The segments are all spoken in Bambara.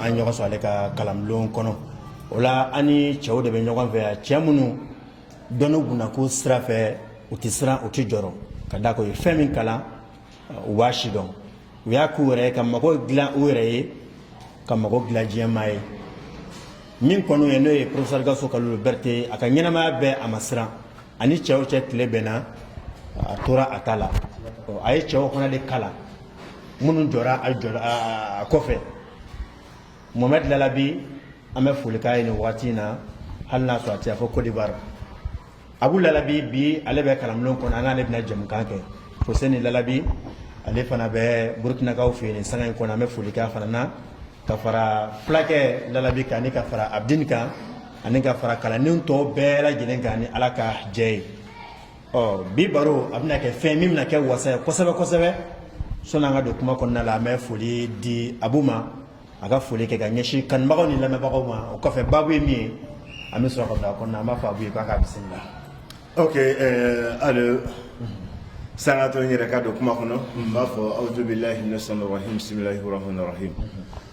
an ɲɔgɔn sɔrɔ ale ka kalanbulon kɔnɔ o la an ni cɛw de bɛ ɲɔgɔn fɛ yan cɛ minnu dɔnni gunnako sira fɛ u tɛ siran u tɛ jɔrɔ ka d'a kan u ye fɛn min kalan u b'a sidɔn u y'a k'u yɛrɛ ye ka mago dilan u yɛrɛ ye ka mago dilan diɲɛ maa ye min kɔni ye n'o ye porofesɛri gawusu kalilu bɛrite a ka ɲɛnamaya bɛɛ a ma siran ani cɛw cɛ tile bɛnna a tora a ta la a ye cɛw fana de kalan minnu jɔra a jɔ a kɔfɛ mohamɛdi lalabi an bɛ foli k'a ye nin wagati in na hali n'a sɔrɔ a taara fo kodiwari abu lalabi bi ale bɛ kalanbulon kɔnɔ an n'ale bɛna jɛmukan kɛ foseni lalabi ale fana bɛ burukinakaw fɛ yen nin sanga in kɔnɔ an bɛ foli k'a fana na ka fara fulakɛ lalabi kan ani ka fara abudini kan ani ka fara kalanden tɔ bɛɛ lajɛlen kan ni ala ka jɛ ye ɔ bi baro a bɛna kɛ fɛn min bɛna kɛ wasa ye kosɛbɛ kosɛbɛ sanni an ka don kuma kɔnɔna la an bɛ foli di abu ma a ka foli kɛ ka ɲɛsin kanubagaw ni lamɛnbagaw ma o kɔfɛ baabu ye min ye an bɛ sɔrɔ ka don a kɔnɔna an b'a fɔ abu ye k'a k'a bisimila ok alors sani ka to n yɛrɛ ka don kuma kɔnɔ n b'a fɔ awudubilahi minasayitani rajim bisimilahi rahmanirahim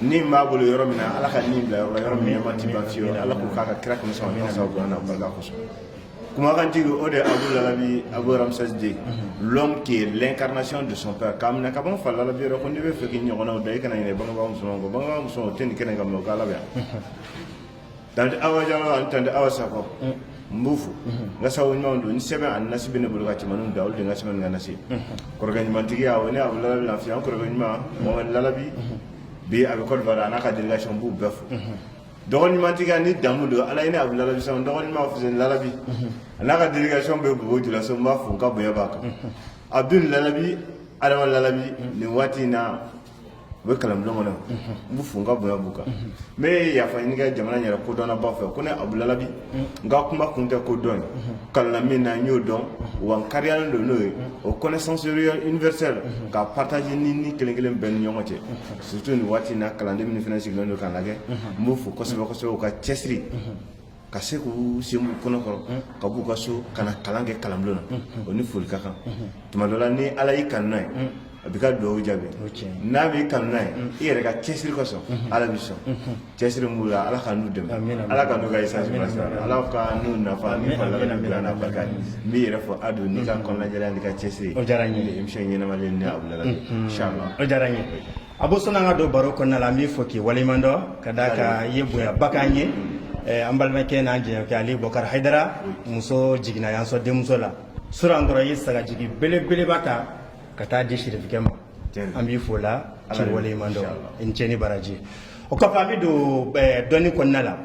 ni b'a bolo yɔrɔ min ala ka nin bila yɔrɔ yɔrɔ min ma tɛ lafi ala ko k'a ka kira kami sɔn min sa na barika kosɔn kumakantigi o de abu lalabi abu Ramsès deux l'homme qui l'incarnation de son père k'a minɛ ka ban fa lalabi yɛrɛ ko n'i b'a fɛ k'i ɲɔgɔnw da i kana ɲinɛ bangebaa musoman kɔ bangebaa musoman o tɛ nin kɛnɛ kan mɛ o' ala yan Tante Awa Jalo ani Tante Awa Sakɔ n b'u fo n ka sago ɲumanw don ni sɛbɛn ani nasi bɛ ne bolo ka cɛmaninw da olu de n ka sɛbɛn ni n ka nasi ye kɔrɔkɛ ɲumantigiya o ne abu lalabi lafiya an kɔrɔkɛ ɲuman mamadu lalabi bi a bɛ Côte d'Ivoire a n'a ka délégation n b'u bɛɛ fo dɔgɔ ɲumantigiya ni damu don ala ye ne abu lalabi sɔn dɔgɔ ɲuman fuseni lalabi a n'a ka délégation bɛ bobo julaso n b'a fo n ka bonya b'a kan abdul lalabi adama lalabi nin waati in na u bɛ kalanbulon kɔnɔ n b'u fo n ka bonya b'u kan n bɛ yafa ɲini kɛ jamana yɛrɛ kodɔnnaba fɛ ko ne abu lalabi n ka kuma kun tɛ ko dɔn ye kalanna min na n y'o dɔn wa n kariyalen don n'o ye o connaissance universelle k'a partager ni ni kelen kelen bɛɛ ni ɲɔgɔn cɛ surtout nin waati in na kalanden minnu fana sigilen don k'an lajɛ n b'u fo kosɛbɛ kosɛbɛ u ka cɛsiri ka se k'u sen b'u kɔnɔ kɔrɔ ka b'u ka so ka na kalan kɛ kalanbulon na o ni foli ka kan tuma dɔ la ni ala y'i kanu n'a ye a b'i ka duwawu jaabi n'a b'i kanu n'a ye i yɛrɛ ka cɛsiri kosɔn ala b'i sɔn cɛsiri min b'u la ala ka n'u dɛmɛ ala ka n'u ka chance bila sira la ala ka n'u nafa ni fa labɛn ni bila n'a barika ye n b'i yɛrɛ fo a don n'i ka kɔnɔnajɛlenya n'i ka cɛsiri o diyara n ye émission ɲɛnamalen ni a wulala inshallah o diyara n ye abu sɔnni an ka don baro kɔnɔna la an b'i fo k'i waleɲuman dɔn ka d'a kan i ye bonyaba k'an ye eh, an balimakɛ n'an jɛɲɔgɔnkɛ ale bɔkari hayidara muso jiginna yan sɔn denmuso la sura an kɔrɔ i ye sagajigi belebeleba ta ka taa di serifikɛ ma an b'i fo la k'i waleɲuman dɔn i ni ce ni baraji o kɔfɛ an bɛ don eh, dɔnni kɔnɔna la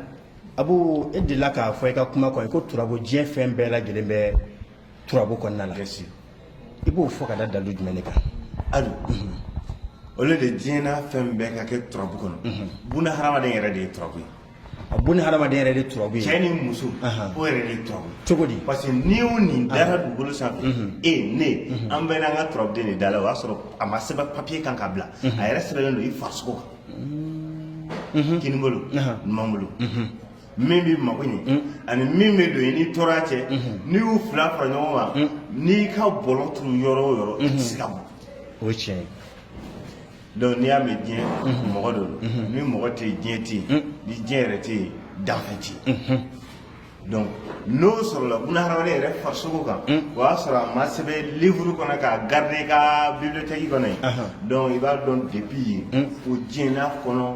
abu e delila k'a fɔ i ka kuma kɔnɔ ko turabu diɲɛ fɛn bɛɛ lajɛlen bɛ turabu kɔnɔna la i b'o fɔ ka da dalu jumɛn ne kan alu o de diɲɛna fɛn bɛɛ ka kɛ turabu kɔnɔ buna hadamaden yɛrɛ de ye turabu ye a buna hadamaden yɛrɛ de turabu ye cɛ ni muso o yɛrɛ de turabu cogo di parce que ni o nin dara dugukolo sanfɛ e ne an bɛɛ n'an ka turabuden de dala o y'a sɔrɔ a ma sɛbɛn papiye kan ka bila a yɛrɛ sɛbɛnnen don i farisogo kan kinibolo numanbolo min bɛ mago ɲɛ mm. ani min bɛ don i ni tɔɔrɔ cɛ mm-hmm. n'i y'u fila fara ɲɔgɔn kan mm. n'i ka bɔlɔ turu yɔrɔ o yɔrɔ i tɛ se ka bɔ o ye tiɲɛ ye donc n'i y'a mɛn diɲɛ mm-hmm. mɔgɔ de don mm-hmm. ni mɔgɔ tɛ yen diɲɛ tɛ yen mm. ni diɲɛ yɛrɛ tɛ yen danfɛn tɛ yen donc n'o sɔrɔla buna hadamaden yɛrɛ farisogo kan o y'a sɔrɔ a ma sɛbɛn livre kɔnɔ k'a garder i ka bibliothèque kɔnɔ yen donc i b'a dɔn depuis yen ko diɲɛ n'a kɔnɔ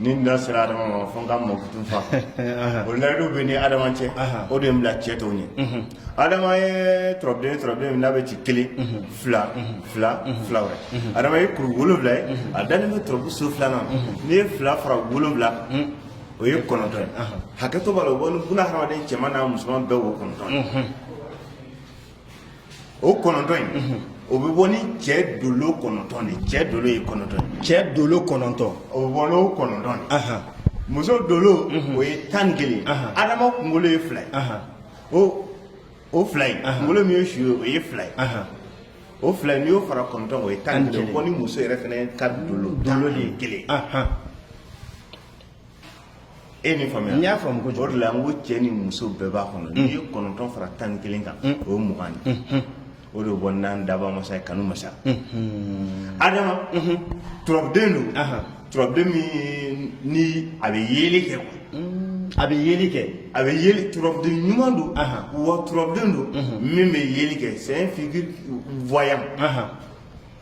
ni da sera adama ma fo n ka mɔkutun fa o layidu bɛ n ni adama cɛ o de ye n bila cɛ tɔw ɲɛ adama ye turabuden turabuden min n'a bɛ ci kelen fila fila fila wɛrɛ adama ye kuru wolonwula ye a dalen bɛ turabu so filanan n'i ye fila fara wolonwula kan o ye kɔnɔntɔn ye hakɛto b'a la o bɛ bɔ ni buna hadamaden cɛman n'a musoman bɛɛ wo kɔnɔntɔn ye o kɔnɔntɔn in mhm. o bɛ bɔ ni cɛ dolo kɔnɔntɔn de cɛ dolo ye kɔnɔntɔn ye cɛ dolo kɔnɔntɔn o bɛ bɔ n'o kɔnɔntɔn de muso dolo mhm. o ye tan ni kelen adama kunkolo ye fila ye o o fila in kunkolo min ye su ye o ye fila ye o fila in n'i y'o fara kɔnɔntɔn o ye tan ni kelen o bɛ bɔ ni muso yɛrɛ fana ka dolo dolo de ye kelen e ni faamuya n y'a faamu kojugu o de la n ko cɛ ni muso bɛɛ b'a kɔnɔ n'i ye kɔnɔntɔn fara tan ni kelen kan o ye mugan de o de bɔ n'an dabaa masa ye kanu masa adama turabuden don turabuden min ni a bɛ yeeli kɛ quoi a bɛ yeeli kɛ a bɛ yeeli turabuden ɲuman don wa turabuden don min bɛ yeeli kɛ c'est un figure voyant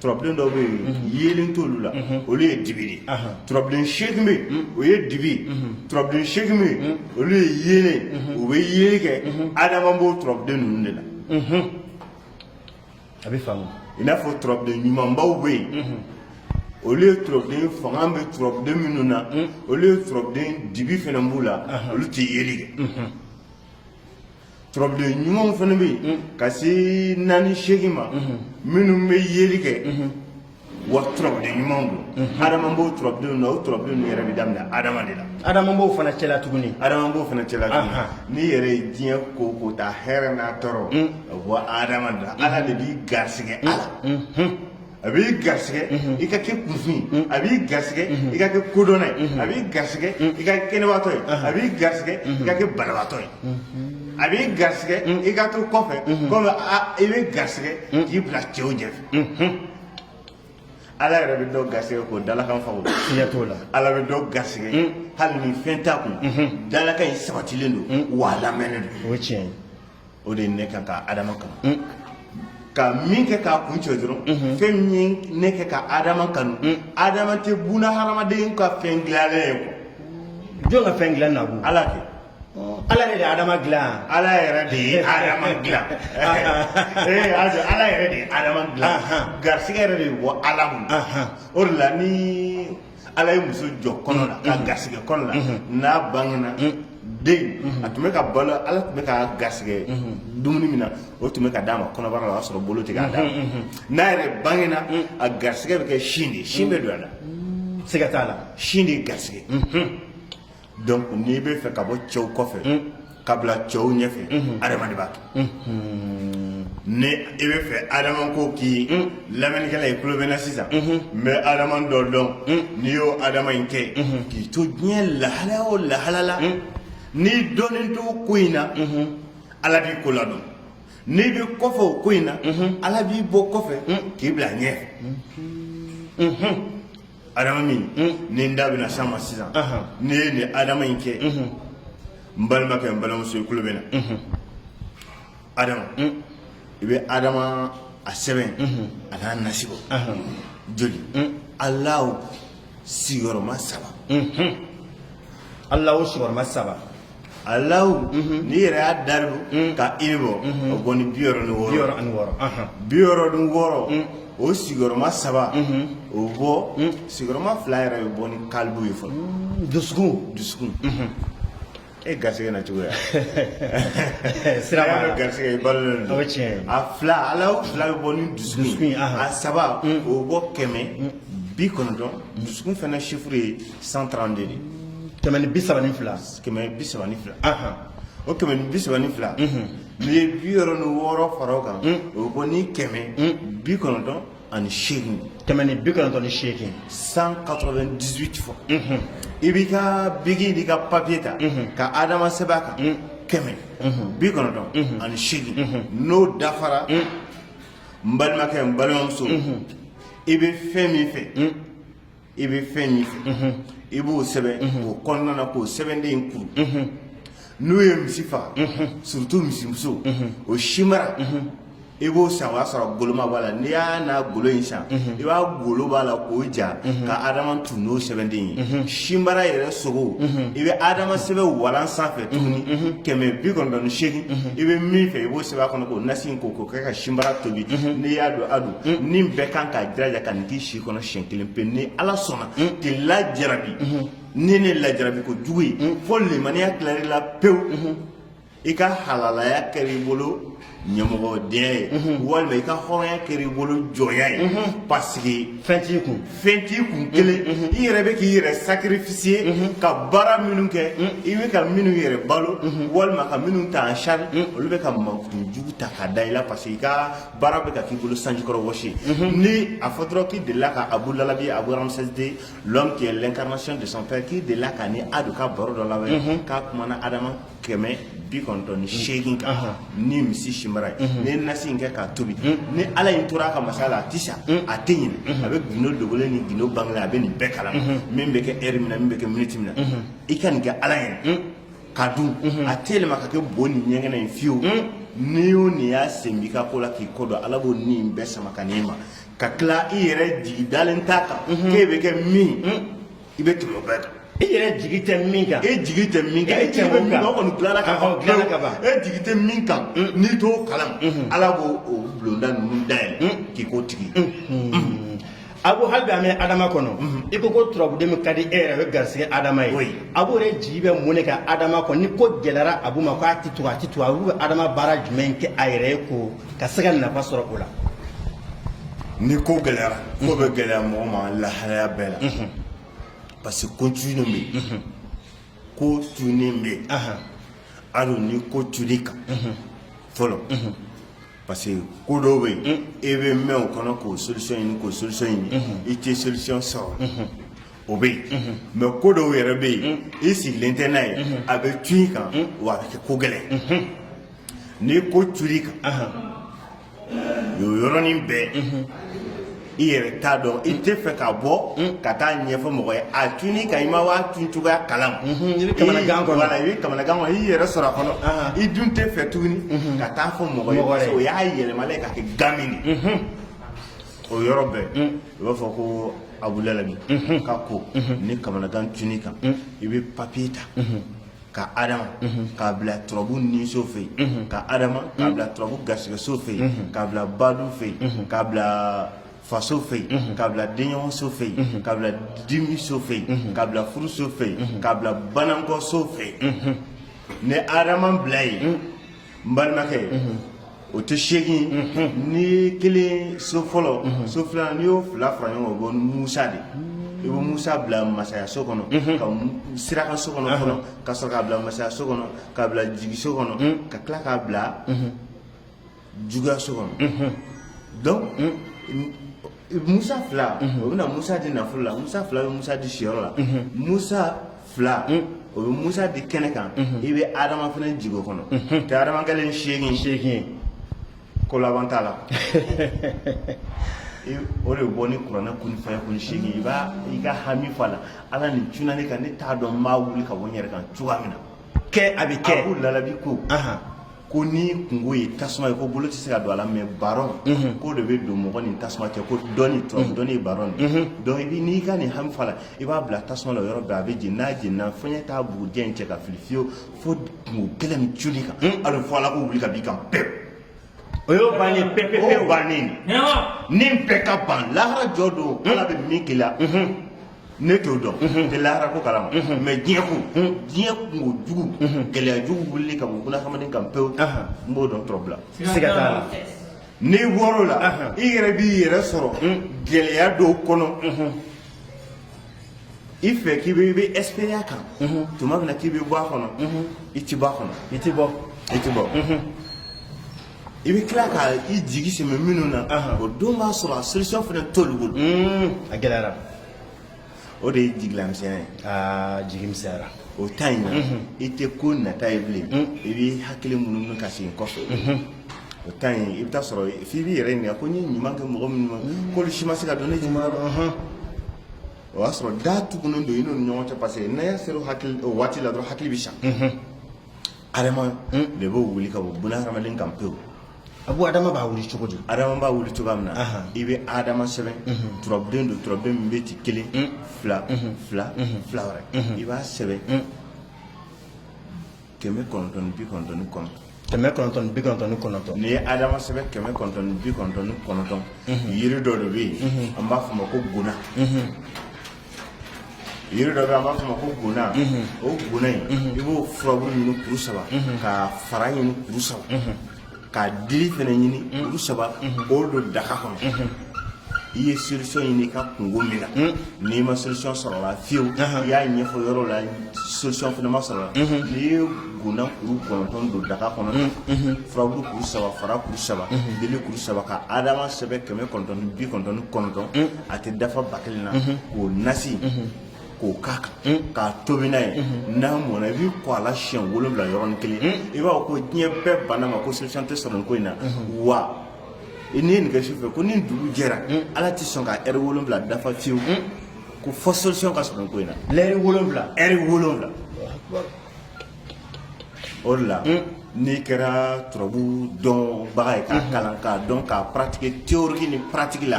turabuden dɔw bɛ yen yeelen t'olu la olu ye dibi de ye turabuden seegin bɛ yen o ye dibi ye turabuden seegin bɛ yen olu ye yeelen u bɛ yeeli kɛ adama b'o turabuden ninnu de la a bɛ faamu i n'a fɔ turabuden ɲumanbaw bɛ yen olu ye turabuden fanga bɛ turabuden minnu na olu ye turabuden dibi fana b'u la olu tɛ yeeli kɛ turabuden ɲumanw fana bɛ yen ka se naani seegin ma minnu bɛ yeli kɛ wa turabuden ɲumanw don adama b'o turabudenw na o turabuden ninnu yɛrɛ bɛ daminɛ adama de la adama b'o fana cɛla tuguni n'i yɛrɛ ye diɲɛ ko ko ta hɛrɛ n'a tɔɔrɔ a bɔ adama de la ala de b'i garisɛgɛ a la a b'i garisɛgɛ i ka kɛ kunfin ye a b'i garisɛgɛ i ka kɛ kodɔnna ye a b'i garisɛgɛ i ka kɛ kɛnɛbaatɔ ye a b'i garisɛgɛ i ka kɛ banabaatɔ ye a b'i garisɛgɛ i ka to kɔfɛ kɔmi a b'i garisɛgɛ k'i bila cɛw ɲɛfɛ ala yɛrɛ bɛ dɔw garisɛgɛ k'o dalakan faw fiɲɛ t'o la ala bɛ dɔw garisɛgɛ hali ni fɛn t'a kun dalakan in sabatilen don wa a lamɛnnen don o tiɲɛ ye o de ye ne kɛ ka adama kanu mm. ka min kɛ k'a kuncɛ dɔrɔn mm-hmm. fɛn min ye ne kɛ ka adama kanu mm. adama tɛ buna hadamaden ka fɛn dilannen ye ko jɔn ka fɛn dilan na b'o ala tɛ ala yɛrɛ de adama dilan ala yɛrɛ de ye adama dilan ee ala yɛrɛ de ye adama dilan garisigɛ yɛrɛ de bɛ bɔ ala mun o de la ni ala ye muso jɔ kɔnɔ la k'a garisɛgɛ kɔnɔ la n'a bangena den a tun bɛ ka balo ala tun bɛ k'a garisɛgɛ dumuni min na o tun bɛ ka d'a ma kɔnɔbara la o y'a sɔrɔ bolo tɛ k'a d'a ma n'a yɛrɛ bangena a garisɛgɛ bɛ kɛ sin de sin bɛ don a da siga t'a la sin de ye garisɛgɛ donc n'i bɛ fɛ ka bɔ cɛw kɔfɛ ka bila cɛw ɲɛfɛ adama de b'a kɛ ni i bɛ fɛ adama ko k'i lamɛnnikɛla i tulo bɛ n na sisan n bɛ adama dɔ dɔn n'i y'o adama in kɛ k'i to diɲɛ lahala o lahala la n'i dɔnnen t'o ko in na ala b'i ko ladɔn n'i bɛ kɔfɛ o ko in na ala b'i bɔ kɔfɛ k'i bila ɲɛ adama min ni n da bɛna s'a ma sisan ne ye nin adama in kɛ n balimakɛ n balimamuso i kulo bɛ n na adama i bɛ adama a sɛbɛn a n'a nasi bɔ joli alahu sigiyɔrɔma saba alahu sigiyɔrɔma saba alahu n'i yɛrɛ y'a daribu ka iri bɔ o bɔ ni bi wɔɔrɔ ni wɔɔrɔ ye bi wɔɔrɔ ni wɔɔrɔ o sigiyɔrɔma saba o bɔ sigiyɔrɔma fila yɛrɛ bɛ bɔ ni kalibu ye fɔlɔ dusukun dusukun e garisɛgɛ na cogoya sira b'a la garisɛgɛ i balolen don o ye tiɲɛ ye a fila alahu fila bɛ bɔ ni dusukun ye ahan. a saba o bɛ bɔ kɛmɛ bi kɔnɔntɔn dusukun fana sifuru ye cent trente-deux kɛmɛ ni bi saba ni fila kɛmɛ bi saba ni fila o kɛmɛ ni bi saba ni fila n'i ye bi wɔɔrɔ ni wɔɔrɔ fara o kan o bɛ bɔ ni kɛmɛ bi kɔnɔntɔn ani seegin kɛmɛ ni bi kɔnɔntɔn ni seegin cent quatre-vingt-dix-huit fo i b'i ka biki n'i ka papiye ta ka adama sɛbɛn a kan kɛmɛ bi kɔnɔntɔn ani seegin n'o dafara n balimakɛ n balimamuso i bɛ fɛn min fɛ i bɛ fɛn min fɛ i b'o sɛbɛn o kɔnɔna na k'o sɛbɛnden in kuru n'u ye misi faga surtout misimuso o sinbara i b'o san o y'a sɔrɔ goloma b'a la n'i y'a n'a golo in san i b'a golo b'a la k'o ja ka adama tun n'o sɛbɛnden ye sinbara yɛrɛ sogo i bɛ adama sɛbɛn walan sanfɛ tuguni kɛmɛ bi kɔnɔntɔn ni seegin i bɛ min fɛ i b'o sɛbɛn a kɔnɔ k'o nasi in ko k'o kɛ ka sinbara tobi n'i y'a don a don ni bɛɛ kan k'a jiraja ka nin k'i si i kɔnɔ siɲɛ kelen pe ni ala sɔnna k'i lajarabi ni ne lajarabi ko jugu ye fo limaniya tilal'i la pewu i ka halalaya kɛra i bolo ɲamɔgɔdenya ye walima i ka hɔrɔnya kɛra i bolo jɔnya ye parce que fɛn t'i kun fɛn t'i kun kelen i yɛrɛ bɛ k'i yɛrɛ sacrifier ka baara minnu kɛ i bɛ ka minnu yɛrɛ balo walima ka minnu ta en charge olu bɛ ka mankutu jugu ta ka da i la parce que i ka baara bɛ ka k'i bolo sanjikɔrɔ wɔsi ni a fɔ dɔrɔn k'i delila ka abu lalabi abu ramsɛsiden l'homme qui est l'incarnation de son père k'i delila ka ni a don ka baro dɔ labɛn k'a kumana adama kɛmɛ bi kɔnɔntɔn ni seegin kan ni misi sinbara ye n'i ye nasi in kɛ k'a tobi ni ala in tora a ka masaya la a tɛ sa a tɛ ɲinɛ a bɛ gindo dogolen ni gindo bangelen a bɛ nin bɛɛ kalama min bɛ kɛ ɛri min na min bɛ kɛ miniti min na i ka nin kɛ ala ye ka dun mhm. a tɛ yɛlɛma ka kɛ bo ni ɲɛgɛnɛ ye fewu mhm. ni o ni y'a sen b'i ka ko la k'i kɔ don ala b'o ni in bɛɛ sama ka n'i ma ka tila i yɛrɛ jigi dalen t'a kan mhm. k'e bɛ kɛ min i bɛ tɛmɛ o bɛɛ kan i yɛrɛ jigi tɛ min kan e jigi tɛ min kan e jigi bɛ min kan o kɔni dilanna ka ban dilanna ka ban e jigi tɛ min kan n'i t'o kalama ala b'o o bulonda ninnu dayɛlɛ k'i k'o tigi ye. Abu hali an bɛ adama kɔnɔ i ko ko turabuden min ka di e yɛrɛ bɛ garisɛgɛ adama ye abu yɛrɛ jigi bɛ mun de kan adama kɔnɔ ni ko gɛlɛyara abu ma k'a tɛ to a tɛ to abu bɛ adama baara jumɛn kɛ a yɛrɛ ye ko ka se ka nafa sɔrɔ o la ni ko gɛlɛyara mɔgɔ bɛ gɛlɛya mɔgɔ ma lahala bɛɛ la parce que ko tu bɛ ko tu bɛ a ni ko tur'i kan fɔlɔ parce que ko dɔw bɛ yen e bɛ mɛɛn o kɔnɔ k'o solution ɲini k'o solution ɲini i tɛ solution sɔrɔ o bɛ yen mais ko dɔw yɛrɛ bɛ yen i sigilen tɛ n'a ye a bɛ tu i kan wa a bɛ kɛ ko gɛlɛn ni ko tur'i kan o yɔrɔnin bɛɛ i yɛrɛ t'a dɔn i tɛ fɛ ka bɔ ka taa ɲɛfɔ mɔgɔ ye a cunn'i kan i ma bɔ a cun cogoya kalama i bɛ kamanagan kɔnɔ i bɛ kamanagan kɔnɔ i yɛrɛ sɔrɔ a kɔnɔ i dun tɛ fɛ tuguni ka taa fɔ mɔgɔ ye parce que o y'a yɛlɛmalen ka kɛ gami de o yɔrɔ bɛɛ i b'a fɔ ko abu lahabi ka ko ni kamanagan cunn'i kan i bɛ papiye ta ka adama k'a bila turabu niso fɛ yen ka adama k'a bila turabu garisigɛso fɛ yen k'a bila badu fɛ yen k'a bila faso fɛ yen k'a bila denɲɔgɔnso fɛ yen k'a bila dimiso fɛ yen k'a bila furuso fɛ yen k'a bila banankɔso fɛ yen ni adama bila yen n balimakɛ o tɛ seegin n'i ye kelen so fɔlɔ so filanan n'i y'o fila fara ɲɔgɔn kan o bɛ bɔ ni musa de ye i bɛ musa bila masaya so kɔnɔ ka siraka so kɔnɔ fɔlɔ ka sɔrɔ k'a bila masaya so kɔnɔ k'a bila jigi so kɔnɔ ka tila k'a bila juguya so kɔnɔ donc musa fila o bɛna musa di nafolo la musa fila bɛ musa di siyɔrɔ la musa fila o bɛ musa di kɛnɛ kan i bɛ adama fana jugu kɔnɔ tɛ adama kɛlen seegin seegin ko laban t'a la o de bɔ ni kuranɛ kun fɛn kun seegin i b'a i ka hami fɔ a la ala nin cunna ne kan ne t'a dɔn n b'a wuli ka bɔ n yɛrɛ kan cogoya min na kɛ a bɛ kɛ abu lahabi ko ko n'i kunko ye tasuma ye ko bolo tɛ se ka don a la mɛ baron ko de bɛ don mɔgɔ ni tasuma cɛ ko dɔnni tɔ dɔnni ye baron de ye donc i bi n'i ka nin hami fɔ a la i b'a bila tasuma la o yɔrɔ bɛɛ a bɛ jeni n'a jenina fɔɲɛ t'a bugurijɛ in cɛ ka fili fiyewu fo kunko gɛlɛn min cunn'i kan a bɛ fɔ a la ko wuli ka b'i kan pewu o y'o bannen o pepepewu bannen de ni bɛɛ ka ban lahara jɔ don ala bɛ min k'i la ne t'o dɔn n tɛ lahara ko kalama mɛ diɲɛ kun diɲɛ kunko jugu gɛlɛya jugu wulili ka bɔ bunadamaden kan pewu n b'o dɔn turabu la siga t'a la n'i bɔr'o la i yɛrɛ b'i yɛrɛ sɔrɔ gɛlɛya dɔw kɔnɔ i fɛ k'i bɛ i bɛ espérer a kan tuma min na k'i bɛ bɔ a kɔnɔ i ti bɔ a kɔnɔ i ti bɔ i ti bɔ i bɛ tila ka i jigi sɛmɛ minnu na o don b'a sɔrɔ a solution fana t'olu bolo a gɛlɛyara o de ye jigilamisɛnya ye aa jigi misɛnyara o ta in na i tɛ ko nata ye bilen i b'i hakili munumunu ka segin kɔfɛ o ta in i bɛ taa sɔrɔ f'i b'i yɛrɛ ɲininka ko n ye ɲuman kɛ mɔgɔ minnu ma k'olu si ma se ka don ne ɲuman dɔn o y'a sɔrɔ da tugunnen don i n'u ni ɲɔgɔn cɛ parce que n'a y'a sera o hakili o waati la dɔrɔn hakili bɛ sa Adama de b'o wuli ka bɔ buna hadamaden kan pewu. A b'o Adama b'a wuli cogo di? Adama b'a wuli cogoya min na, i bɛ Adama sɛbɛn turabuden don turabuden min bɛ ci kelen fila fila fila wɛrɛ i b'a sɛbɛn kɛmɛ kɔnɔntɔn ni bi kɔnɔntɔn ni kɔnɔntɔn. Kɛmɛ kɔnɔntɔn ni bi kɔnɔntɔn ni kɔnɔntɔn. N'i ye Adama sɛbɛn kɛmɛ kɔnɔntɔn ni bi kɔnɔntɔn ni kɔnɔntɔn yiri dɔ de bɛ yen an b'a fɔ o ma ko guna. yiri dɔ bɛ an b'a fɔ a ma ko guna o guna in i b'o furabulu ɲini kuru saba k'a fara ɲini kuru saba k'a dili fana ɲini kuru saba k'o don daga kɔnɔ i ye solution ɲini i ka kunko min na n'i ma solution sɔrɔ a la fiyewu i y'a ɲɛfɔ yɔrɔ la solution fana ma sɔrɔ a la n'i ye guna kuru kɔnɔntɔn don daga kɔnɔ furabulu kuru saba fara kuru saba dili kuru saba ka adama sɛbɛn kɛmɛ kɔnɔntɔn ni bi kɔnɔntɔn ni kɔnɔntɔn a tɛ dafa ba kelen na k'o nasi k'o k'a kan k'a tobi n'a ye n'a mɔna i b'i ko a la siɲɛ wolonwula yɔrɔnin kelen i b'a fɔ ko diɲɛ bɛɛ banna a ma ko solution tɛ sɔrɔ nin ko in na wa n'i ye nin kɛ su fɛ ko ni dugu jɛra ala tɛ sɔn ka ɛri wolonwula dafa fiyewu ko fo solution ka sɔrɔ nin ko in na lɛri wolonwula ɛri wolonwula o de la n'i kɛra turabu dɔnbaga ye k'a kalan k'a dɔn k'a paratike teyoriki ni paratiki la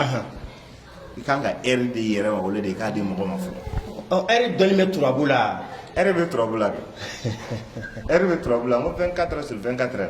i kan ka ɛri d'i yɛrɛ ma o de i k'a di mɔgɔ ma fɔlɔ ɔ ɛri dɔnni bɛ turabu la ɛri bɛ turabu la de ɛri bɛ turabu la n ko vingt-quatre sur vingt-quatre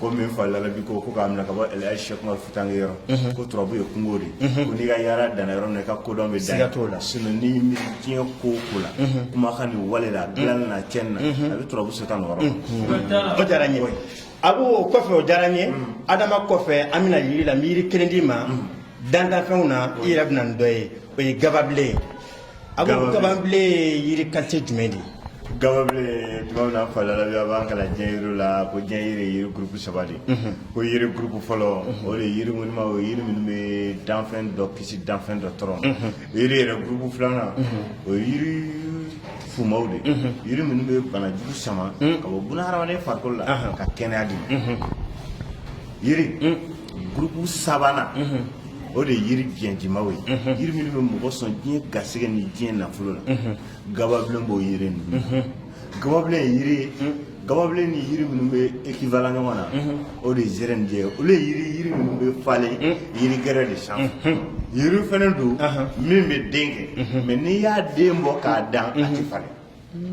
komi n fa lalabi ko ko k'a minɛ ka bɔ ɛlaji sɛkumaru futankɛ yɔrɔ mhm. ko turabu ye kungo de mhm. ko n'i ka yaara danna yɔrɔ min na i ka kodɔn bɛ dan t'o la sinɔn n'i mi diɲɛ ko o ko la mhm. kumakan ni wale la dilanni na cɛnni na a bɛ turabu seta nin yɔrɔ o diyara n ye a b'o o kɔfɛ o diyara n ye adama kɔfɛ an bɛna yiri la n bɛ yiri kelen d'i ma dantanfɛnw na i yɛrɛ bɛna nin dɔ ye o ye gababilen ye A ko gababilen yiri ka se jumɛn de gababilen tuma min na n fa Lalabi a b'an kalan diɲɛ yiri la ko diɲɛ yiri yiri gurup saba de ko yiri gurup fɔlɔ o de yiri ŋɔnima o yiri minnu bɛ danfɛn dɔ kisi danfɛn dɔ tɔɔrɔ yiri yɛrɛ gurup filanan o yiri fumaw de yiri minnu bɛ banajugu sama ka bɔ buna hadamaden farikolo la ka kɛnɛya di yiri gurup sabanan o de ye yiri biɲɛjimaw ye yiri minnu bɛ mɔgɔ sɔn diɲɛ garisɛgɛ ni diɲɛ nafolo la gababilen b'o yiri ninnu gababilen ye yiri ye gababilen ni yiri minnu bɛ ekivalan ɲɔgɔn na o de ye zɛrɛnijɛ ye olu ye yiri yiri minnu bɛ falen yiri gɛrɛ de sanfɛ yiri fana don min bɛ den kɛ mɛ n'i y'a den bɔ k'a dan a tɛ falen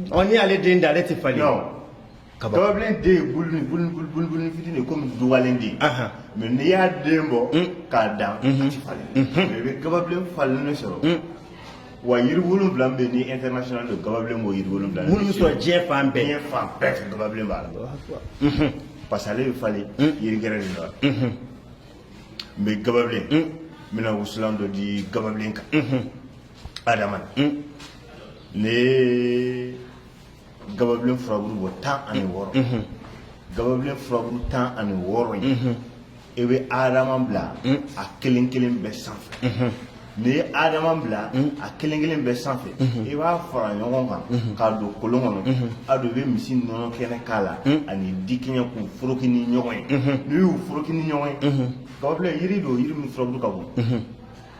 ɔ n'i y'ale den dan ale tɛ falen Gababilen den ye buluni buluni buluni buluni buluni fitini de ye komi dugalen den Anhan mais n'i y'a den bɔ un k'a dan unhun a ti falen unhun mais i be gababilen falennen sɔrɔ un wa yiri wolonwula min be yen ni international don gababilen b'o yiri wolonwula minnu be sɔrɔ diɲɛ fan bɛɛ diɲɛ fan bɛɛ fɛ gababilen b'a la Alahu akibaru unhun parce que ale be falen un yiri gɛrɛ de la unhun n be gababilen un n bena wusulan dɔ di gababilen kan unhun adama na un ne gababilen furaburu bɔ tan ani wɔɔrɔ gababilen furaburu tan ani wɔɔrɔ in i bɛ adama bila a kelen kelen bɛɛ sanfɛ n'i ye adama bila a kelen kelen bɛɛ sanfɛ i b'a fara ɲɔgɔn kan k'a don kolon kɔnɔ a don i bɛ misi nɔnɔ kɛnɛ k'a la ani dikiɲɛ k'u foroki ni ɲɔgɔn ye n'i y'u foroki ni ɲɔgɔn ye gababilen yiri don yiri min furabulu ka bon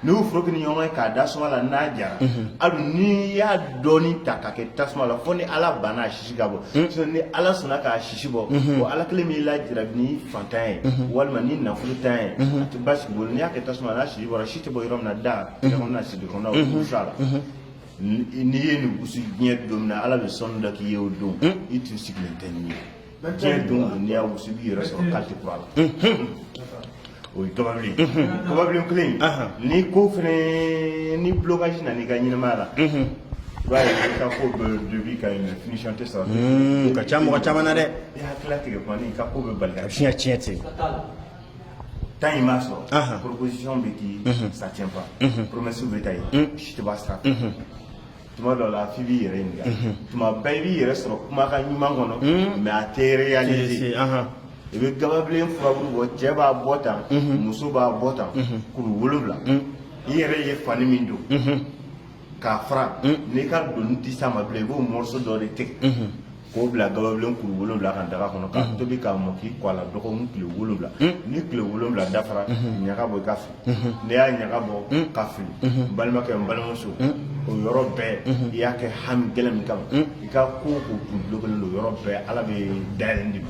N'i y'o foroki ni ɲɔgɔn ye k'a da suma la n'a jara hali n'i y'a dɔɔni ta k'a kɛ tasuma la fo ni Ala banna a sisi ka bɔ sinon ni Ala sɔnna k'a sisi bɔ bon Ala kelen b'i lajarabi ni faantanya ye walima ni nafolotanya ye a tɛ baasi k'i bolo n'i y'a kɛ tasuma la n'a sisi bɔra si tɛ bɔ yɔrɔ min na da kɔnɔna sidon kɔnɔna o bɛ wusu a la n'i ye nin wusu diɲɛ don min na Ala bɛ sanu da k'i ye o don i tun sigilen tɛ ni ye diɲɛ don don n'i y'a wusu i b'i yɛrɛ sɔrɔ kati kura la o ye gababilen gababilen kelen in ni ko fɛnɛ ni blocage nana i ka ɲɛnamaya la i b'a ye i ka ko bɛ début ka ɲɛ finition tɛ sɔrɔ o ka ca mɔgɔ caman na dɛ i hakilila tigɛ kuma ni i ka ko bɛ bali ka tiɲɛ tiɲɛ ten ten i b'a sɔrɔ proposition bɛ kɛ ça tient pas promesse bɛ ta i ye si tɛ b'a sira fɛ tuma dɔ la f'i b'i yɛrɛ ɲininka tuma bɛɛ i b'i yɛrɛ sɔrɔ kumakan ɲuman kɔnɔ mais a tɛ réaliser i bɛ gababilen furabulu bɔ cɛ b'a bɔ tan muso b'a bɔ tan kuru wolonwula i yɛrɛ ye fani min don k'a fara n'i ka donni tɛ s'a ma bilen i b'o morceau dɔ de tigɛ k'o bila gababilen kuru wolonwula kan daga kɔnɔ k'a tobi k'a mɔ k'i ko a la dɔgɔkun tile wolonwula ni tile wolonwula dafara ɲaga bɔ i k'a fili n'i y'a ɲaga bɔ k'a fili n balimakɛ n balimamuso o yɔrɔ bɛɛ i y'a kɛ hami gɛlɛn min kama i ka ko o ko tun bulokelen don yɔrɔ bɛɛ ala bɛ dayɛlɛn d'i ma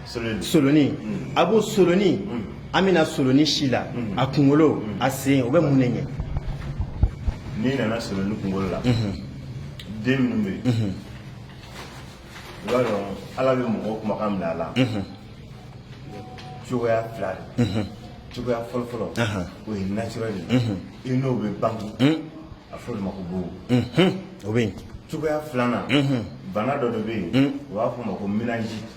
solonin a b'o solonin an bɛ na solonin si la a kunkolo a sen o bɛ mun de ɲɛ n'i nana solonin kunkolo la den minnu bɛ yen i b'a dɔn ala bɛ mɔgɔw kumakan minɛ a la cogoya fila de cogoya fɔlɔ fɔlɔ o ye naturel de ye i n'o bɛ bange a fɔ olu ma ko bobo o bɛ yen cogoya filanan bana dɔ de bɛ yen u b'a fɔ o ma ko méningite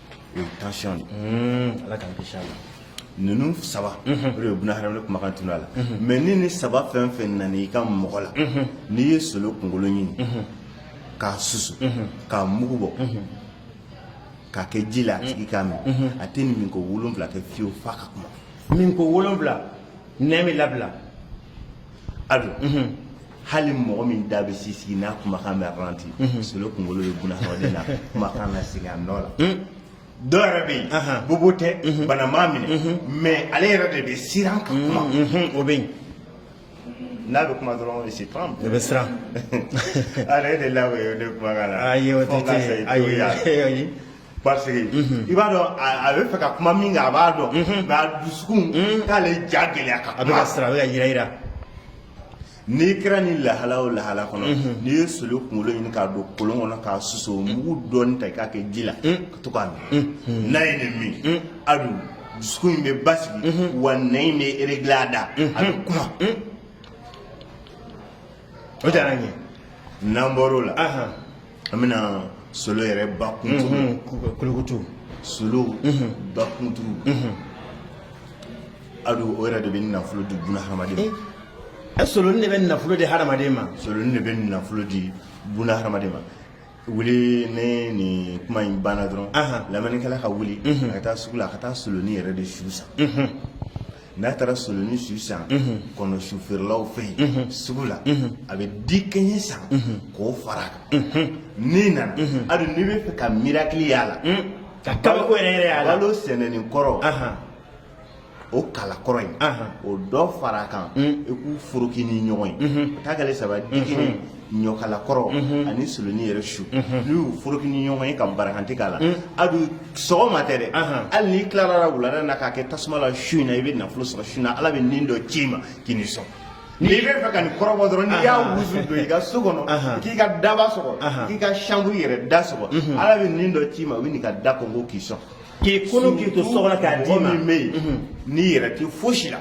o ye tension de ye Ala k'an kisi a ma ninnu saba o de bɛ buna hadamaden kumakan tunu a la mais ni nin saba fɛn o fɛn nana i ka mɔgɔ la n'i ye solo kunkolo ɲini k'a susu k'a mugu bɔ k'a kɛ ji la a tigi k'a min a tɛ nin min ko wolonwula kɛ fiyewu f'a ka kuma min ko wolonwula nɛn bɛ labila a dun hali mɔgɔ min da bɛ sisigi n'a kumakan bɛ ralenti solo kunkolo bɛ buna hadamaden na kumakan nasigi a nɔ la dɔ yɛrɛ bɛ yen bobo tɛ bana m'a minɛ mais ale yɛrɛ de bɛ siran ka kuma o bɛ yen n'a bɛ kuma dɔrɔn o se tɔn o bɛ siran ale de la o ye ne kumakan na ayi o tɛ ayi ayi parce que i b'a dɔn a bɛ fɛ ka kuma min kan a b'a dɔn nka a dusukun k'ale ja gɛlɛya ka a bɛ ka siran a bɛ ka yiranyiran n'i kɛra nin lahala o lahala kɔnɔ n'i ye solo kunkolo ɲini k'a don kolon kɔnɔ k'a susu mugu dɔɔni ta i k'a kɛ ji la ka to k'a min n'a ye nin min a dun dusukun in bɛ basigi wa nɛn in bɛ réglé a da a bɛ kuma o diyara n ye n'an bɔr'o la. an bɛna solo yɛrɛ bakunturu kolokoto solo bakunturu a dun o yɛrɛ de bɛ nafolo di buna hadamaden ma ɛ soloni de bɛ nafolo di hadamaden ma soloni de bɛ nafolo di buna hadamaden ma wuli ne nin kuma in banna dɔrɔn lamɛnnikɛla ka wuli ka taa sugu la ka taa soloni yɛrɛ de su san n'a taara soloni su san kɔnɔ su feerelaw fɛ yen sugu la a bɛ dikɛɲɛ san k'o fara a kan n'i nana a dun n'i b'a fɛ ka miracle y'a la ka kabako yɛrɛ yɛrɛ y'a la balo sɛnɛnen kɔrɔ o kala kɔrɔ in o dɔ fara a kan i k'u foroki ni ɲɔgɔn ye o t'a kɛlen saba dikɛɲɛ ɲɔkala kɔrɔ ani soloni yɛrɛ su n'i y'u foroki ni ɲɔgɔn ye ka barakante k'a la a dun sɔgɔma tɛ dɛ hali n'i tilara la wulada na k'a kɛ tasuma la su in na i bɛ nafolo sɔrɔ su in na ala bɛ nin dɔ ci i ma k'i ni sɔn n'i b'a fɛ ka nin kɔrɔbɔ dɔrɔn n'i y'a wusu don i ka so kɔnɔ k'i ka daba sɔgɔ k'i ka chambre yɛrɛ da sɔgɔ ala bɛ nin dɔ ci i ma u bɛ nin ka da kɔnkɔn k'i sɔn k'i kolo k'i to so kɔnɔ k'a d'i ma mɔgɔ min bɛ yen n'i yɛrɛ tɛ fosi la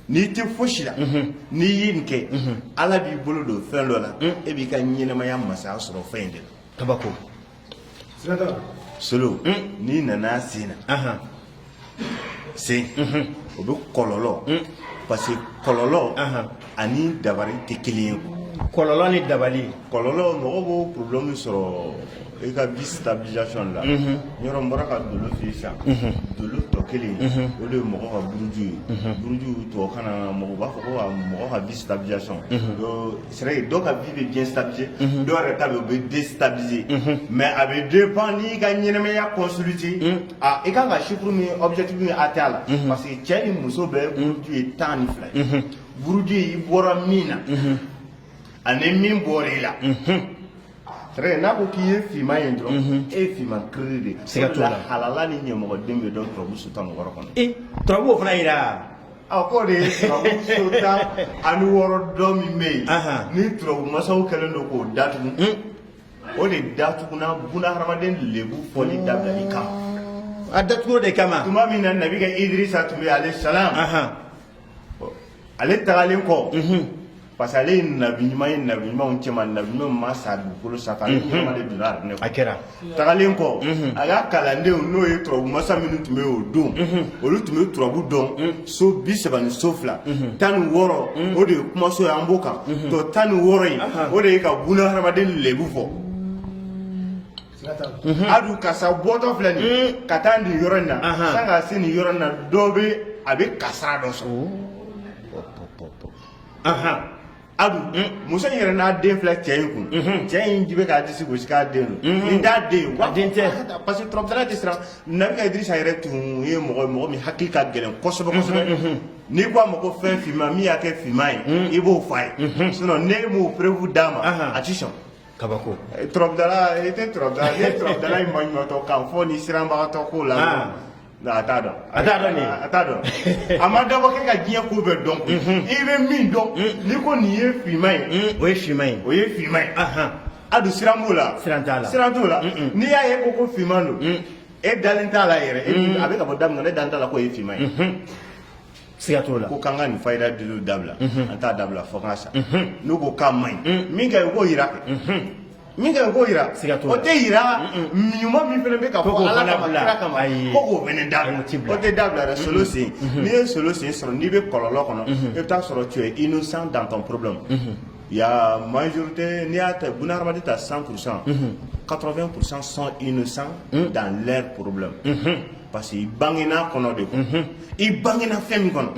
n'i tɛ fosi la n'i ye nin kɛ ala b'i bolo don fɛn dɔ la i b'i ka ɲɛnamaya masaya sɔrɔ fɛn in de la kabako solo n'i nana sen na sen o bɛ kɔlɔlɔ parce que kɔlɔlɔ ani dabali tɛ kelen ye kɔlɔlɔ ni dabali kɔlɔlɔ mɔgɔ b'o problème sɔrɔ i ka vie stabilisation la yɔrɔ bɔra ka dolo fi sa dolo tɔ kelen o de ye mɔgɔ ka buruju ye buruju tɔ kana mɔgɔ b'a fɔ ko mɔgɔ ka vie stabilisation sɛ dɔ ka vie bɛ bien stabilisé dɔw yɛrɛ ta bɛ déstabilisé mais a bɛ dépend n'i ka ɲɛnamaya kɔsuliti Aa i kan ka chiffre min objectif min atteint a la unhun parce que cɛ ni muso bɛɛ buruju ye 10 ni 2 ye unhun buruju i bɔra min na unhun ani min bɔra i la unhun c'est vrai n'a ko k'i ye fiman ye dɔrɔn unhun e ye fiman kiriri de ye siga t'o la o de la halala ni ɲamɔgɔden bɛ dɔn turabu so tan ni wɔɔrɔ kɔnɔ e turabu o fana yira a k'o de ye turabu so tan ani wɔɔrɔ dɔ min bɛ yen Ahan. ni turabu masaw kɛlen don k'o datugu un o de datuguna buna hadamaden lebu fɔli dabilali kama a datugu de kama tuma min na nabi ka idrisa tun bɛ alayhi salam ale tagalen kɔ parce que ale ye nabi ɲuman ye nabi ɲumanw cɛma nabi ɲumanw ma sa dugukolo sanfɛ ale ɲɛnama de donna arijinɛ a kɛra tagalen kɔ a ka kalandenw n'o ye turabu masa minnu tun bɛ yen o don olu tun bɛ turabu dɔn so bi saba ni so fila tan ni wɔɔrɔ o de ye kumaso ye an b'o kan tɔ tan ni wɔɔrɔ in o de ye ka buna hadamaden lebu fɔ a dun kasara bɔtɔ filɛ nin ka taa nin yɔrɔ in na sanni ka se nin yɔrɔ in na dɔ bɛ a bɛ kasara dɔ sɔrɔ A dun muso in yɛrɛ n'a den filɛ cɛ in kun cɛ in ji bɛ k'a disi gosi k'a den don nin t'a den wa den tɛ parce que turabudala in tɛ siran nabi ka idrisa yɛrɛ tun ye mɔgɔ mɔgɔ min hakili ka gɛlɛn kosɛbɛ kosɛbɛ n'i ko a ma ko fɛn finma min y'a kɛ finma ye i b'o fɔ a ye sinon n'i m'o preuve d'a ma a tɛ sɔn kabako turabudala i tɛ turabudala i tɛ turabudala in maɲumatɔ kan fɔ ni siranbagatɔ ko la Nka a t'a dɔn a t'a dɔn a t'a dɔn a ma dabɔ kɛ ka diɲɛ ko bɛɛ dɔn i bɛ min dɔn n'i ko nin ye finma ye o ye finma ye o ye finma ye a dun siran b'o la siran t'a la siran t'o la n'i y'a ye ko ko finma don e dalen t'a la yɛrɛ a bɛ ka bɔ daminɛ ne dalen t'a la k'o ye finma ye siga t'o la ko k'an ka nin fayida diliw dabila an t'a dabila fo k'a sa n'u ko k'a man ɲi min ka ɲi u k'o jira kɛ min ka ɲi u k'o jira siga t'o la o tɛ jira ɲuman min fana bɛ ka fɔ ala kama kira kama ko k'o fana dabila o tɛ dabila dɛ solution n'i ye solution sɔrɔ n'i bɛ kɔlɔlɔ kɔnɔ i bɛ taa sɔrɔ tu es innocent dans ton problème il y a majorité n'i y'a ta buna hadamaden ta 100 pourcent 80 pourcent sont innocents dans leur problème parce que i bangena kɔnɔ de kɔnɔ i bangena fɛn min kɔnɔ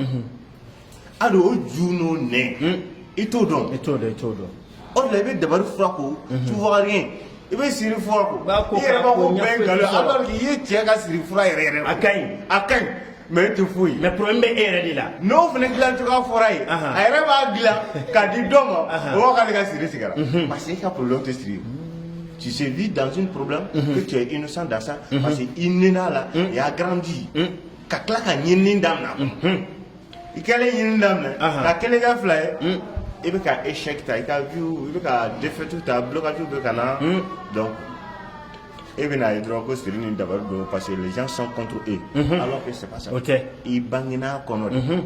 a do o ju n'o nɛn i t'o dɔn i t'o dɔn i t'o dɔn o de la i bɛ dabari fura ko tu vas guérir i bɛ siri fura ko B'a ko i yɛrɛ b'a ko ko bɛɛ ɲɛfɔ nkalon ye, sɔrɔ. alors que i ye cɛ ka siri fura yɛrɛ yɛrɛ a ka ɲi a ka ɲi mais e tɛ foyi ye mais problème bɛ e yɛrɛ de la n'o fana dilan cogoya fɔra ye Ahan. a yɛrɛ b'a dilan k'a di dɔ ma Ahan. o b'a k'ale ka siri tigɛra parce que e ka problème tɛ siri ye Tu se vis dans une problème mm -hmm. que tu es innocent dans ça mm -hmm. parce que il est né là là mm -hmm. il a grandi mm -hmm. ka tila ka ɲinini daminɛ mm -hmm. i kɛlen ɲinini daminɛ uh -huh. ka kelen kɛ fila ye mm -hmm. i bɛ ka échec ta i ka vie i bɛ ka défaite ta blocage bɛ ka na mm -hmm. donc e bɛn'a ye dɔrɔn ko siri ni dabali don parce que les gens sont contre eux mm -hmm. alors que c'est pas ça o tɛ i bangena kɔnɔ de mm -hmm.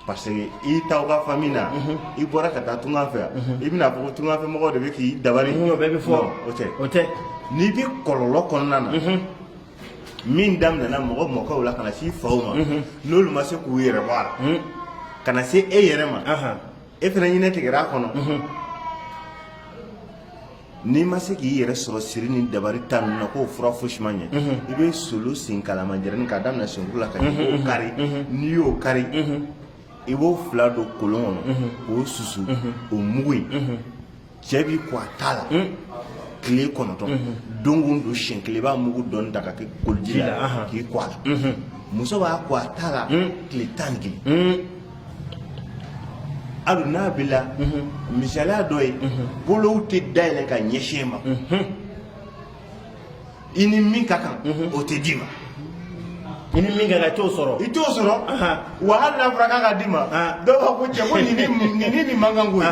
Parce que i taara fan min na i bɔra ka taa tunga fɛ i bɛna fɔ tungafɛ mɔgɔw de bɛ k'i dabali bɛ fɔ o tɛ o tɛ n'i bɛ kɔlɔlɔ kɔnɔna na min daminɛna mɔgɔ mɔkɛw la ka na se i faw ma n'olu ma se k'u yɛrɛ bɔ a la ka na se e yɛrɛ ma e fana ɲinin tigɛra a kɔnɔ N'i ma se k'i yɛrɛ sɔrɔ siri ni dabari ta ninnu na k'o fura fosi ma ɲɛ, unhun, i bɛ solo sen kalamanjɛrɛnin k'a daminɛ senkuru la ka jigin, unhun, k'o kari, unhun, n'i y'o kari, unhun, i b'o fila don kolon kɔnɔ, unhun, k'o susu, unhun, o mugu in, unhun, cɛ b'i ko a ta la, un, tile kɔnɔntɔn, unhun, don o don siɲɛ kelen i b'a mugu dɔɔni ta ka kɛ koliji la k'i ko a la, unhun, muso b'a ko a ta la tile tan ni kelen, un Hali n'a b'i la misaliya dɔ ye bolow tɛ dayɛlɛ ka ɲɛsin e ma i ni min ka kan o tɛ d'i ma i ni min ka kan i t'o sɔrɔ i t'o sɔrɔ wa hali n'a fɔra k'an k'a d'i ma dɔw b'a fɔ ko cɛ ko nin ni nin man kan ko ye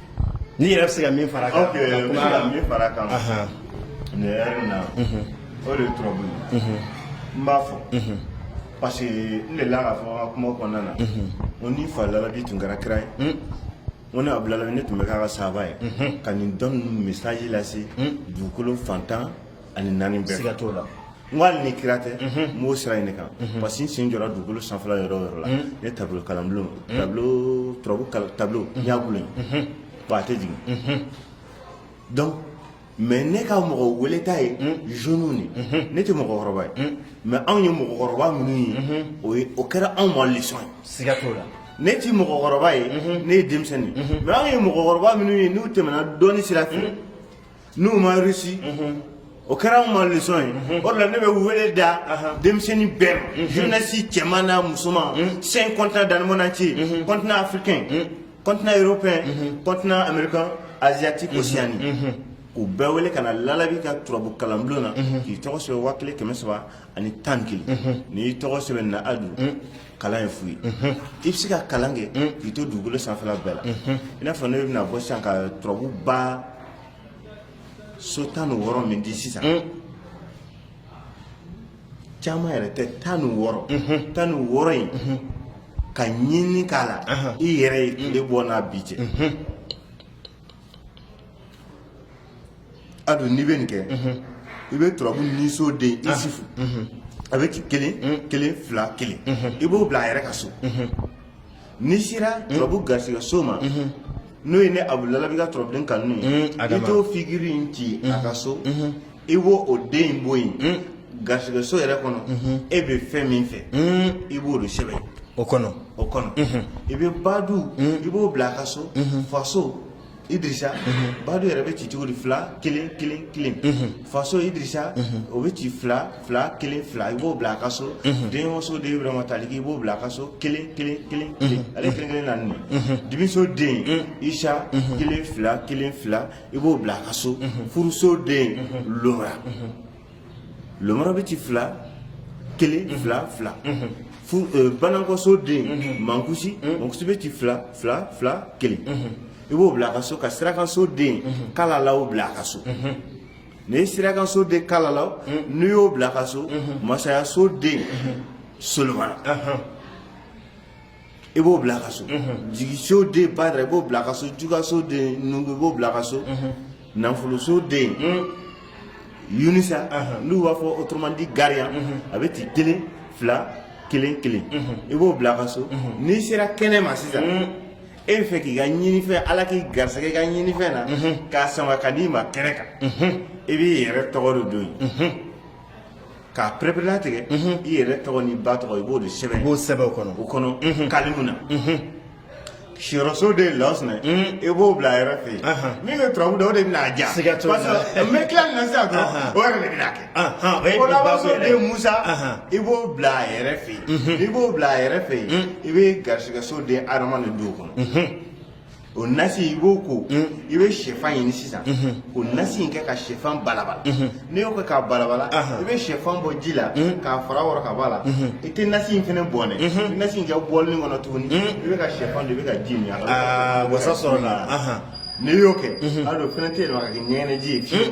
Ne yɛrɛ bɛ se ka min fara a kan min fara a kan na o de ye turabu n b'a fɔ parce que n delila k'a fɔ n ka kuma kɔnɔna na o ni fa labi tun kɛra kira ye ko ne Abilayi ne tun bɛ k'a ka saaba ye ka nin dɔnni message lase dugukolo fan tan ani naani bɛɛ siga t'o la n ko hali ni kira tɛ n b'o sira in de kan parce que n sen jɔra dugukolo sanfɛla yɔrɔ o yɔrɔ la n ye tableau kalanbulon tableau turabu kal- tableau n y'a gulon yen bon a tɛ jigin donc mais ne ka mɔgɔ weleta ye jeunes de ye. ne tɛ mɔgɔkɔrɔba ye mais anw ye mɔgɔkɔrɔba minnu ye o ye o kɛra anw ma leçon ye siga t'o la ne tɛ mɔgɔkɔrɔba ye ne ye denmisɛnnin ye mais anw ye mɔgɔkɔrɔba minnu ye n'u tɛmɛna dɔnni sira fɛ n'u ma réussi o kɛra anw ma lesɔn ye o de la ne bɛ wele da denmisɛnnin bɛɛ ma jeunesse cɛman n'a musoman cinq continent dans le monde entier continent africain continent européen continent américain asiatique océanie k'u bɛɛ wele ka na lalabi ka turabu kalanbulon na k'i tɔgɔ sɛbɛn waa kelen kɛmɛ saba ani tan ni kelen n'i y'i tɔgɔ sɛbɛn na adu kalan ye fu ye i bɛ se ka kalan kɛ k'i to dugukolo sanfɛla bɛɛ la i n'a fɔ ne bɛna bɔ sisan ka turabu ba so tan ni wɔɔrɔ min di sisan caman yɛrɛ tɛ tan ni wɔɔrɔ tan ni wɔɔrɔ in ka ɲini k'a la i yɛrɛ ye tile bɔ n'a bin cɛ a don n'i bɛ nin kɛ i bɛ turabu niso den isufu a bɛ ci kelen kelen fila kelen i b'o bila a yɛrɛ ka so n'i sera turabu garisɛgɛ so ma n'o ye ne abu lalabi ka turabu ka n'u ye i t'o figiri in ci a ka so i b'o o den bɔ yen garisɛgɛ so yɛrɛ kɔnɔ e bɛ fɛn min fɛ i b'o de sɛbɛn o kɔnɔ i bɛ badu i b'o bila a ka so faso Idrissa badu yɛrɛ bɛ ci cogo di fila kelen kelen kelen faso idrissa o bɛ ci fila fila kelen fila i b'o bila a ka so denso den burama taaliki i b'o bila a ka so kelen kelen kelen ale kelen kelen naani dimiso den isa kelen fila kelen fila i b'o bila a ka so furuso den lora lomɔrɔ bɛ ci fila kelen fila fila fu eh, banakɔso den mankusi mankusi bɛ ci fila fila fila kelen i b'o bila a ka so ka sirakanso den kalalaw bila a ka so n'i ye sirakanso den kalalaw n'i y'o bila a ka so masayaso den solomana i b'o bila ka so jigiso den badara i b'o bila ka so jugaso den nungu i b'o bila ka so nafoloso den yunisa n'u b'a fɔ autrement dit gariyan a bɛ ci kelen fila kelen kelen i b'o bila ka so n'i sera kɛnɛ ma sisan e b'a fɛ k'i ka ɲinifɛn ala k'i garisɛgɛ i ka ɲinifɛn na k'a sama ka d'i ma kɛnɛ kan i b'i yɛrɛ tɔgɔ de don yen k'a pɛrɛpɛrɛlatigɛ i yɛrɛ tɔgɔ n'i ba tɔgɔ i b'o de sɛbɛn o kɔnɔ kalimu na siyɔrɔso den lɔsinɛ i b'o bila a yɛrɛ fɛ yen min bɛ turabu da o de bɛna a ja n bɛ tila nin na sisan dɔrɔn o yɛrɛ de bɛna a kɛ o labanso den musa i b'o bila a yɛrɛ fɛ yen i b'o bila a yɛrɛ fɛ yen i bɛ garisɛgɛso den adama de don o kɔnɔ o nasi i b'o ko i bɛ sɛfan ɲini sisan k'o nasi in kɛ ka sɛfan balabala n'i y'o kɛ k'a balabala i bɛ sɛfan bɔ ji la k'a fara wɔrɔ ka bɔ a la i tɛ nasi in fana bɔn dɛ ni nasi in kɛ bɔlini kɔnɔ tuguni i bɛ ka sɛfan dun i bɛ ka ji min a la wasa sɔrɔ la n'i y'o kɛ a don fɛnɛ tɛ yɛlɛma ka kɛ ɲɛgɛnɛji ye fiyewu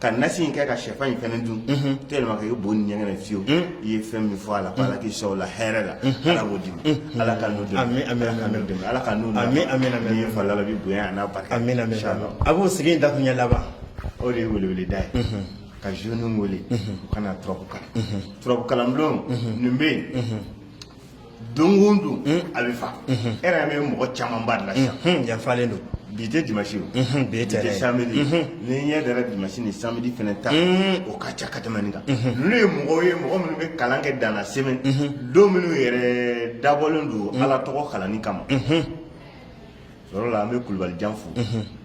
ka nasi in kɛ ka shɛfan in fɛnɛ dun tellement que i bo ni ɲɛgɛnɛ fiyewu i ye fɛn min fɔ a la ko ala k'i sɔn o la hɛrɛ la ala b'o d'i ma ala ka n'o dɛmɛ Amin, amin, ala ka n'o dɛmɛ ala ka n'o nɔgɔya. Amin, amin, amin. n'i ye fa lalabi bonya a n'a barika amin amin Inchallah. abu sigi in dakuɲɛ laban o de ye weleweleda ye ka jeunes wele u ka na turabu kalan turabu kalanbulon nin bɛ yen don o don a bɛ fa e yɛrɛ bɛ mɔgɔ camanba de la sisan yan falen don bi tɛ dimanche o bi tɛ tɛ samedi n'i ɲɛ dara dimanche ni samedi fana ta o ka ca ka tɛmɛ nin kan ninnu ye mɔgɔw ye mɔgɔ minnu bɛ kalan kɛ dan na semaine don minnu yɛrɛ dabɔlen don ala tɔgɔ kalanni kama yɔrɔ la an bɛ kulubali jan fo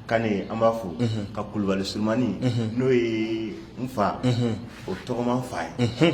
kane an b'a fo ka kulubali surumani n'o ye n fa o tɔgɔman fa ye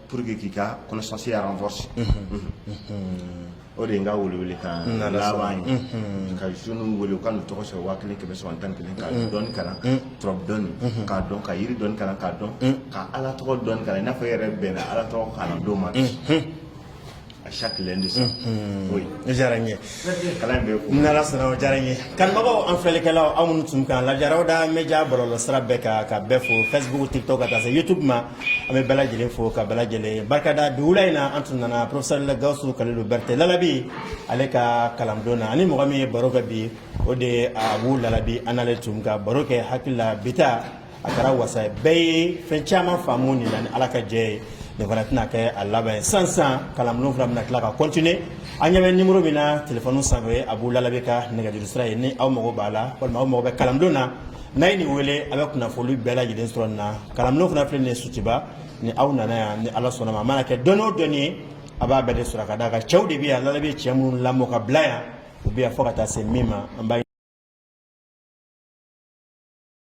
Pour que k'i ka connaissance ya renforcer o de ye n ka welewele kan laban ye ka jeunes wele u ka n'u tɔgɔ sɛbɛn waa kelen kɛmɛ saba ni tan ni kelen ka dɔnni kalan turabu dɔnni k'a dɔn ka yiri dɔnni kalan k'a dɔn ka ala tɔgɔ dɔnni kalan i n'a fɔ e yɛrɛ bɛnna ala tɔgɔ kalan don ma a chaque lundi soir. oui o diyara n ye. kalan bɛ kun. n'ala sɔnna o diyara n ye. kanubagaw an filɛlikɛlaw aw minnu tun k'an lajɛ rawda media bɔlɔlɔ sira bɛɛ kan ka bɛɛ fo facebook tiktok ka taa se youtube ma an bɛ bɛɛ lajɛlen fo ka bɛɛ lajɛlen barika da bi wula in na an tun nana professeur gawusu kalilu berete lalabi ale ka kalanbulon na ani mɔgɔ min ye baro kɛ bi o de ye abu lalabi an n'ale tun ka baro kɛ hakili la bi ta a kɛra wasa ye bɛɛ ye fɛn caman faamu nin na ni ala ka jɛ ye nin fana tɛna kɛ a laban ye san san kalanbulon fana bɛna tila ka continuer aw ɲɛ bɛ nimoro min na telefɔni sanfɛ abu lalabi ka nɛgɛjuru sira ye ni aw mago b'a la walima aw mago bɛ kalanbulon na n'a ye nin wele a bɛ kunnafoli bɛɛ lajɛlen sɔrɔ nin na kalanbulon fana filɛ nin ye sotuba ni aw nana yan ni ala sɔnn'a ma a mana kɛ dɔnni o dɔnni ye a b'a bɛɛ de sɔrɔ ka d'a kan cɛw de bɛ yan lalabi cɛ minnu lamɔ ka bila yan u bɛ yan fo ka taa se min ma an b'a